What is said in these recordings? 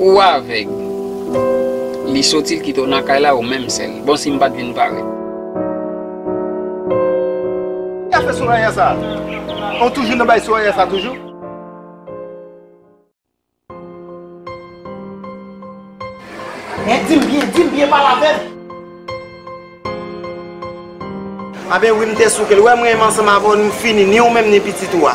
Ou avèg? Li soti l kite w nan kay la ou menm sèl. Bon si m pa t vin parèt. Ki afè Soraya sa? Ou toujou nan bay Soraya sa toujou? Hein di m byen, di m byen pale avè m. A ben wi m te souke l. Ou wè mwen ansanm avè w nou fini ni ou menm ni pitit ou a.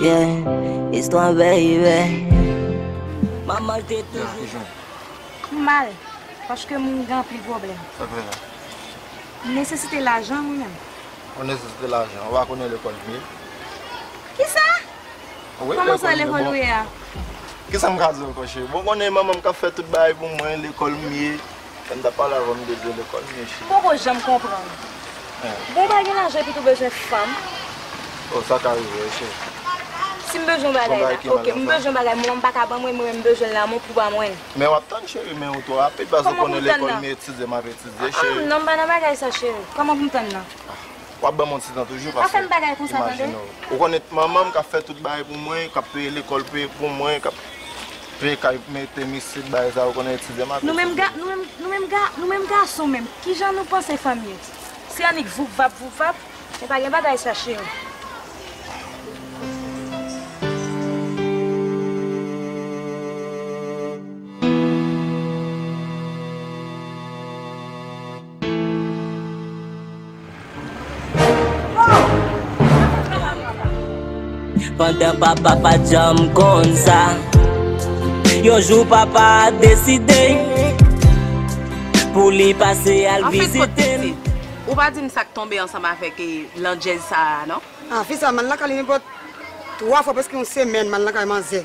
Yeah, istwa baby. M mal, paske m gen anpil pwoblèm. Sa fè sa? M nesesite lajan mwen menm. Ou nesesite lajan? Ou pa konnen lekòl m ye? Kisa? Kòman sa lekòl ou ye a? Kisa m ka di w ankò cheri? Bon ou konnen manman m k ap fè tout bagay pou mwen, lekòl m ye. Fèm ta pale avèw m bezwen lekòl mesye. M poko janm konprann. Bon w pa gen lajan epi tou bezwen fanm. Oh sa ka rive wi cheri. Sim bezwen bagay la ok m bezwen bagay mwen m pa ka ban mwen mwen m bezwen l la mwen pou ba mwen l. Men wap tann cheri men ou twò rapid paske ou konnen lekòl m etize map etize cheri. Ahh non m pa nan bagay sa cheri. Kòman pou m tann nan. Wap banm yon ti tan toujou paske imajine w. Ou konnen manmanm kap fè tout bagay pou mwen, kap peye lekòl peye pou mwen, kap peye kay mete misye t bagay sa ou konnen ti dema Nou menm ga nou menm ga nou menm gason menm kijan nou panse fanm ye se annik voup vap voup vap men pa gen bagay sa cheri. Pandan papa pa t janm konn sa Yon jou papa deside Pou li pase al vizite m Ou pa di m sa k tonbe ansanm avèk landjèz sa a non? An fi sa, m al lakay li nenpòt 3 fwa prèske yon semèn m al lakay manzè.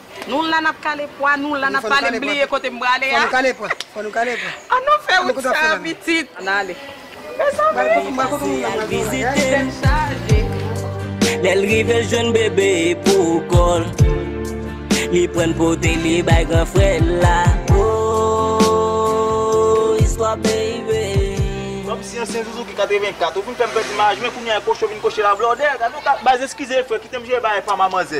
Nou la nap kale pwa, nou la nap pale m bliye kote m prale a. An nou fè wout sa a pitit. An ale. Lè l rive l jwenn bebe pou kò l Li pran l pote li bay gran frè l la Ooh istwa peyi peyi Kòm si ansyen zuzu ki 84 ou vin fèm pèdi maj mwen kounya e kocho vin koche la blòdè gade yon ka baz eskize frè kitem jere bagay pam a manzè.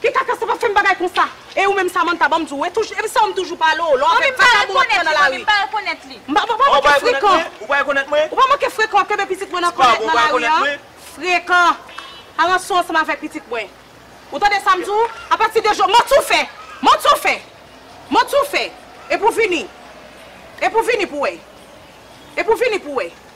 Pi kaka sa pa fèm bagay konsa. E ou menm Samantha banm di w e touj e m sanw m toujou pale w lè w ap fè kaka moun ap pran nan lari. M pa pa manke frekan. Ou pa rekonèt mwen? Ou pa manke frekan w ap kenbe pitit mwen nan kòlèt nan lari an. Frekan. A ranson ansanm avèk pitit mwen. Ou tande sa m di w? A pati de jodi manti w fè. Manti w fè. Manti w fè. Epi w vini. Epi w vini pou w wè. Epi w vini pou w wè.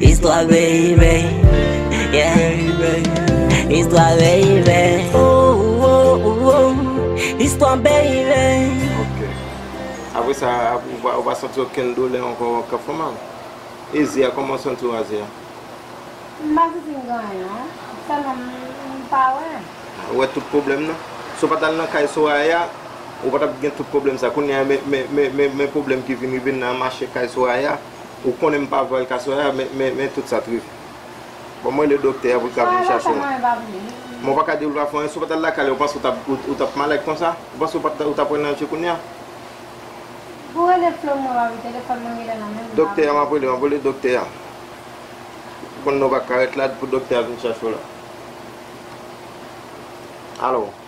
Istwa Veye Veye yeah Istwa Veye Veye oh oh oh oh Istwa Veye Veye Ok Apre sa ou pa santi okenn doulè ankò kap fè mal? E ze a kòman ou santi w a ze a? M pa santi m gen anyen non Sèlman m pa wè Ou wè tout pwoblèm nan? Si w pat al nan kay Soraya ou pa tap gen tout pwoblèm sa Kounye a men pwoblèm ki vin rive nan mache kay Soraya. Ou konnen m pa pral ka Soraya men tout sa t rive Bon m rele doktè a pou l ka vin chache m Men w pa ka di l w pa fè anyen si w pa t al lakay li ou panse ou t ap malad konsa Ou panse ou t ap pran nan je kounya Doktè a m ap rele m ap rele doktè a Ou konnen ou pa ka ret la pou doktè a vin chache w la Alo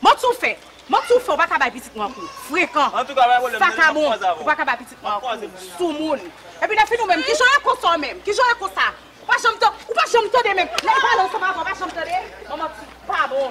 Mwen tou fè, mwen tou fè ou pa ka bay pitit mwen kou, frekan, vakabon, ou pa ka bay pitit mwen kou, soumoun. Epi nan fini ou menm, kijan w ye konsa ou menm, kijan w ye konsa? Ou pa janm tande, ou pa janm tande menm, lè l pale ou sanble avè l ou pa janm tande, ou manti, ou pa bon.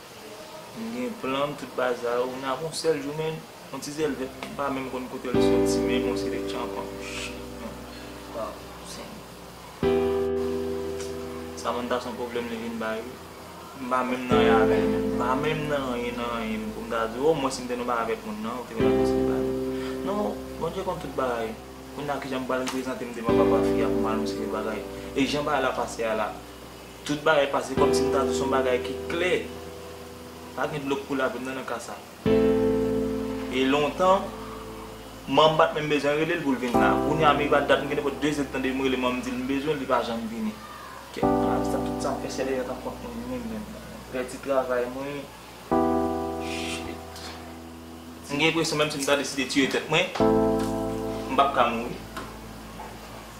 M gen plan m tout baza yo men ap yon sèl jou men yon ti zèl vèt m pa menm konn kote l soti men bon se de tchanpan shit man waw senyè Samantha son pwoblèm li vin bay wi m pa menm nan anyen avè l menm m pa menm nan anyen nan anyen pou m ta di w o mwens m te nan bagay avèk moun nan ou te konn ap eseye bay m non Bondye konn tout bagay kounye a kijan m pral reprezante m devan papa fi a pou m anonse li bagay e jan bagay la pase a la. Tout bagay pase kòm si m ta di son bagay ki klè. Pa gen dlo k koule avè m nan nan ka sa. E lontan, man m pa t menm bezwen rele l pou l vin la. Kounye a m rive a dat m gen nenpòt 2 zèdtan depi m rele man m di l m bezwen l, li pa janm vini. Kèk mwa de sa, tout sa m fè sèl Elena t ap kont mwen ni menm menm. M pèdi travay mwen. Shit. M gen enpresyon menm si m ta deside tiye tèt mwen, m p ap ka mouri.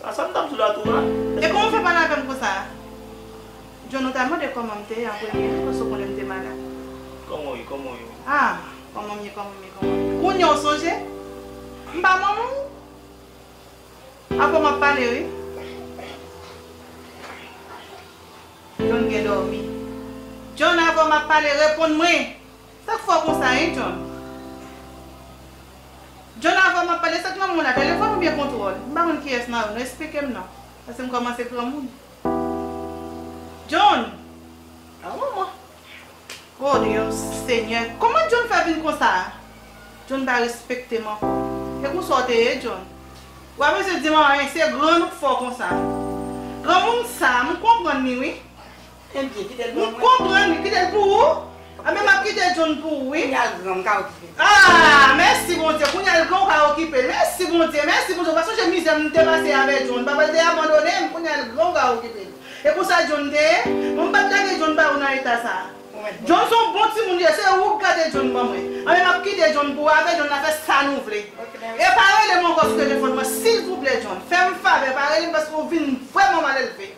Sa sam tap di w la tou a. E kòman w fè pale avè m konsa a? John ou ta mande kòman m te ye an premye wi paske w konnen m te malad. Kòman w ye, kòman w ye wi. A! Kòman m ye, kòman m ye, kòman m ye. Kounye a w sonje? M pa manman w? Avè w m ap pale wi. John gen dòmi. John avè w m ap pale reponn mwen! Sak fè w konsa hein John. John avan map pale sak lanmou la telefon oubyen kontwòl m pa konn kiyès nan yo nou esplike m non paske m kòmanse pran moun John a wè mwen oh Dieu senyè kòman John fè vin konsa John pa respekte m ankò e konsa w te ye John ou pa bezwen di m anyen se grann ou k fè w konsa granmoun sa m konprann li wi. Enbyen, kite l pou mwen. M konprann wi, kite l pou ou. Anben m ap kite John pou ou wi. Kounya l gran, m ka okipe l. Aah! Mèsi Bondye, kounya l gran ou ka okipe l. Mèsi Bondye, mèsi Bondye, ou pa sonje mizè m te pase avè John. Papa l te abandone m, kounya l gran ou ka okipe l. E konsa John te ye? Bon m pa t lage John ba ou nan eta sa a. John s on bon timoun li ye, se ou k gade John ban mwen. Anben m ap kite John pou ou, avè John n a fè sa nou vle. E pa rele m ankò sou telefòn mwen silvouplè John. Fè m favè, pa rele m paske ou vin vrèman malelve.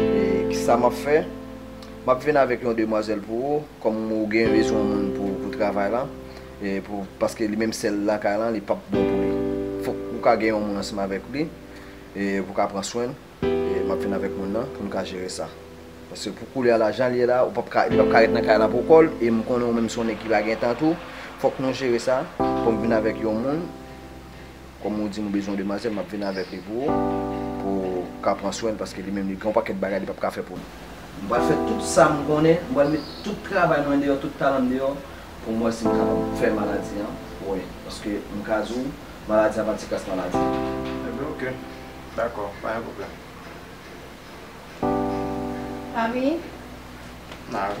E kisa map fè? Map vin avèk yon demwazèl pou ou, kòm ou gen bezwen moun pou pou travay lan, e pou paske li menm sèl lakay lan li pap bon pou li. Fòk ou ka gen yon moun ansanm avèk li, e pou ka pran swenn, e map vin avèk moun nan pou nou ka jere sa. Paske pou koulye a la janl ye la ou pap ka li pap ka ret nan kay lan pou kòl, e m konnen ou menm se yon nèg ki pa gen tan tou, fòk nou jere sa, fòk m vin avèk yon moun. Kòm ou di m ou bezwen yon demwazèl, m ap vin avèk li pou ou, pou ou ka pran swen l, paske li menm li gen yon pakèt bagay li p ap ka fè pou nou. M pral fè tout sa m konnen, m pral met tout travay mwen deyò, tout talan m deyò, pou m wè si m kapab fè maladi an wè. Paske m ka di w, maladi an pa ti kras maladi. Epi ok. Dakò, pa gen pwoblèm. Papi? Mari.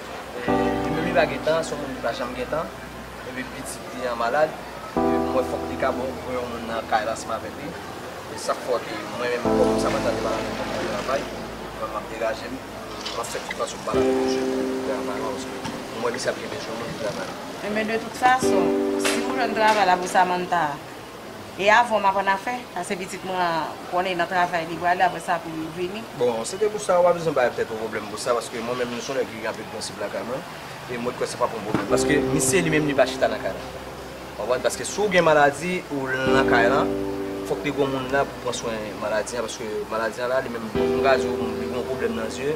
Demi li pa gen tan, son moun ki pa janm gen tan, epi pitit li an malad, m wè fòk li ka bon pou yon moun nan kay la ansanm avèk li, e sak fò ke mwen menm kòm m sa pa ta depale avèk moun nan travay, mwen map degaje m, map fè tout fason pou m pale avèk misye pou m travay la paske m wè misye ap gen bezwen moun pou travay la. Enben de tout fason, si ou jwenn travay la pou Samantha a, E avan m ap an afè, pase pitit mwen an konnen nan travay li prale apre sa pou l vini. Bon, se te pou sa, ou pa bezwen bay tèt ou pwoblèm pou sa, paske mwen menm nou son nèg ki gen anpil prensip lakay mwen, e mwen kwè se pa pou yon pwoblèm, paske misye li menm li pa chita nan kay la. Ou konprann? Paske si w gen maladi, ou nan kay la, fòk te gen yon moun la pou pran swen maladi an, paske maladi an la li menm, m ka di w li gen yon pwoblèm nan zye.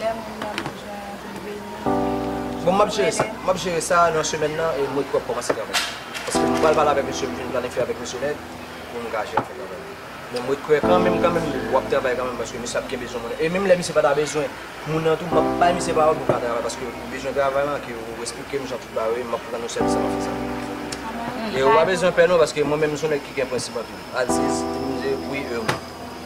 Lè moun nan bezwen li beni nou wi. Bon map jere sa, map jere sa nan semèn nan e mwen ki wap kòmanse travay. Paske m pral pale avèk misye m fin planifye avèk misye nèt pou m ka jere afè travay la. Men mwen kwè kanmenm kanmenm wap travay kanmenm paske misye ap gen bezwen moun nan. E menm lè misye pata bezwen moun nan tou map bay misye pawòl pou l ka travay paske ou bezwen travay lan ke ou esplike m jan tout bagay ye map rann ou sèvis map fè sa pou ou. E ou pa bezwen pè non paske mwen menm m son nèg ki gen prensip anpil. Aziz, Dinouze, wi, Urmi.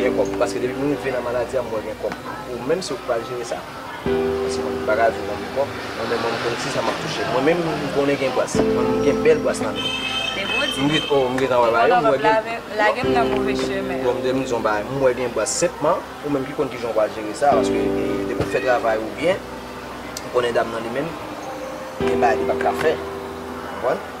Gen kòb paske depi m rive nan maladi a m wè gen kòb pou menm si yo pral jere sa paske mwen m paka viv anvi kòb mwen menm m konn kisa map touche mwen menm m konnen gen bwàs mwen m gen bèl bwàs nan menm m gen oh m gentan wè bagay yo m wè gen bon m te vin di w yon bagay m wè gen bwàs senpman ou menm ki konn kijan w pral jere sa paske depi w fè travay ou byen ou konnen dam nan li menm gen bagay li pap ka fè ou konprann.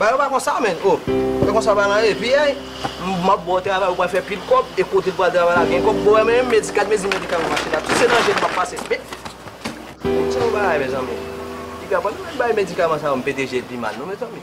Bagay yo pa konsa menn oh. Se konsa bagay lan ye piyay. M ap ba w travay ou pral fè pil kòb e kote ou pral travay la ap gen kòb. Bon wè mwen menm gad mezi medikal mwen mache la. Si se nan je m m ap pase spe. Bon se yon bagay mezanmi. Piga pa nou menm bay medikaman sa yo m pete je l pi mal non mezanmi.